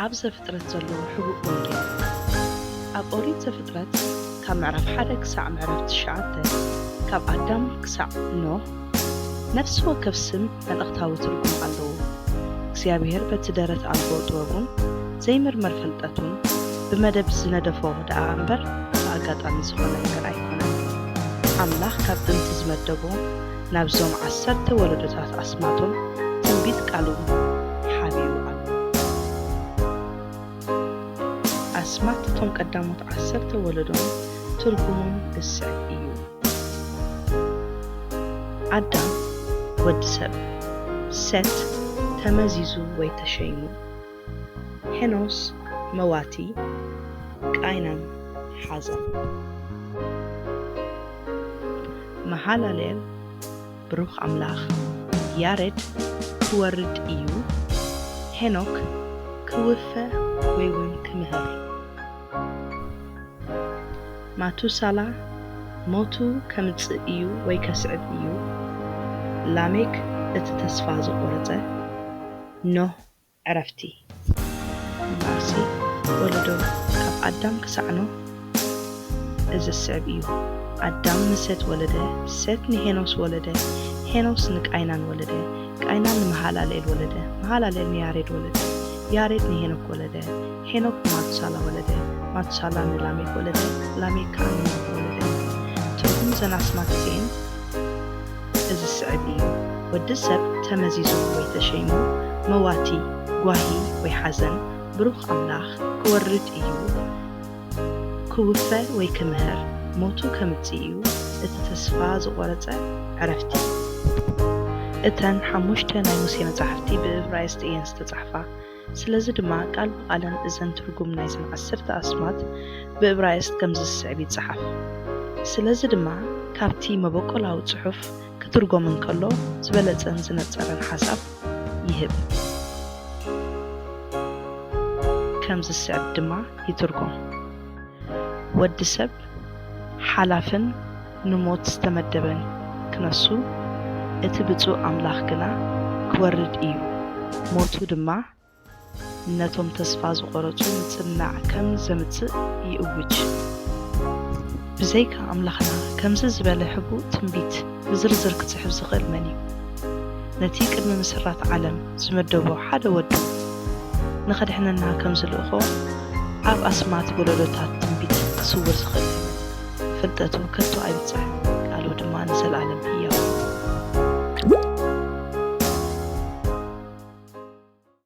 ኣብ ዘፍጥረት ዘሎ ሕቡእ ወንጌል። ኣብ ኦሪት ዘፍጥረት ካብ ምዕራፍ ሓደ ክሳዕ ምዕራፍ ትሽዓተ፣ ካብ ኣዳም ክሳዕ ኖህ፣ ነፍሲ ወከፍ ስም መልእኽታዊ ትርጉም ኣለዎ። እግዚኣብሄር በቲ ደረት ኣልቦ ጥበቡን ዘይምርመር ፍልጠቱን ብመደብ ዝነደፎ ደኣ እምበር ብኣጋጣሚ ዝኾነ ነገር ኣይኮነን። ኣምላኽ ካብ ጥንቲ ዝመደቦ ናብዞም ዓሰርተ ወለዶታት ኣስማቶም ትንቢት ቃሉን ሓቢኡ ኣሎ። ኣስማት እቶም ቀዳሞት ዓሰርተ ወለዶን ትርጉሙን ዝስዕብ እዩ። ኣዳም፣ ወዲ ሰብ፣ ሴት፣ ተመዚዙ ወይ ተሸይሙ። ሄኖስ መዋቲ ቃይናን ሓዘን። መሃለሌል ብሩኽ ኣምላኽ ያሬድ ክወርድ እዩ ሄኖክ ክውፈ ወይ ውን ክምህር። ማቱሳላ ሞቱ ከምጽእ እዩ ወይ ከስዕብ እዩ ላሜክ እቲ ተስፋ ዝቖረጸ ኖህ ዕረፍቲ እምበኣርሲ ወለዶ ካብ ኣዳም ክሳዕ ኖህ እዚ ዝስዕብ እዩ፣ ኣዳም ንሴት ወለደ፣ ሴት ንሄኖስ ወለደ፣ ሄኖስ ንቃይናን ወለደ፣ ቃይናን ንመሃላልኤል ወለደ፣ መሃላልኤል ንያሬድ ወለደ፣ ያሬድ ንሄኖክ ወለደ፣ ሄኖክ ንማቱሳላ ወለደ፣ ማቱሳላ ንላሜክ ወለደ፣ ላሜክ ከኣ ንኖህ ወለደ። ትርጉም እዘን ኣስማት እዚኤን። እዚ ዝስዕብ እዩ፣ ወዲ ሰብ ተመዚዙ ወይ ተሸይሙ መዋቲ፣ ጓሂ ወይ ሓዘን ብሩኽ ኣምላኽ ክወርድ እዩ፣ ክውፈ ወይ ክምህር ሞቱ ከምጽእ እዩ፣ እቲ ተስፋ ዝቖረጸ ዕረፍቲ። እተን ሓሙሽተ ናይ ሙሴ መጻሕፍቲ ብእብራይስጢ እየን ዝተጻሕፋ። ስለዚ ድማ ቃል ብቓለን እዘን ትርጉም ናይዘን ዓሰርተ ኣስማት ብእብራይስጥ ከምዚ ዝስዕብ ይጸሓፍ። ስለዚ ድማ ካብቲ መበቆላዊ ጽሑፍ ክትርጎም እንከሎ ዝበለጸን ዝነጸረን ሓሳብ ይህብ። ከምዚ ዝስዕብ ድማ ይትርጎም፣ ወዲ ሰብ ሓላፍን፣ ንሞት ዝተመደበን ክነሱ፣ እቲ ብጹእ ኣምላኽ ግና ክወርድ ኢዩ፣ ሞቱ ድማ ነቶም ተስፋ ዝቖረጹ ምጽንናዕ ከም ዘምጽእ ይእውጅ። ብዘይካ ኣምላኽና ከምዚ ዝበለ ሕቡእ ትንቢት ብዝርዝር ክጽሕፍ ዝኽእል መን ኢዩ? ነቲ ቅድሚ ምስራት ዓለም ዝመደቦ ሓደ ወዱ ንኸድሕነና ከም ዝልእኾ ኣብ ኣስማት ወለዶታት ትንቢት ክስውር ዝኽእል መን ኢዩ? ፍልጠቱ ከቶ ኣይብጽሕን፣ ቃሉ ድማ ንዘለኣለም ህያው እዩ።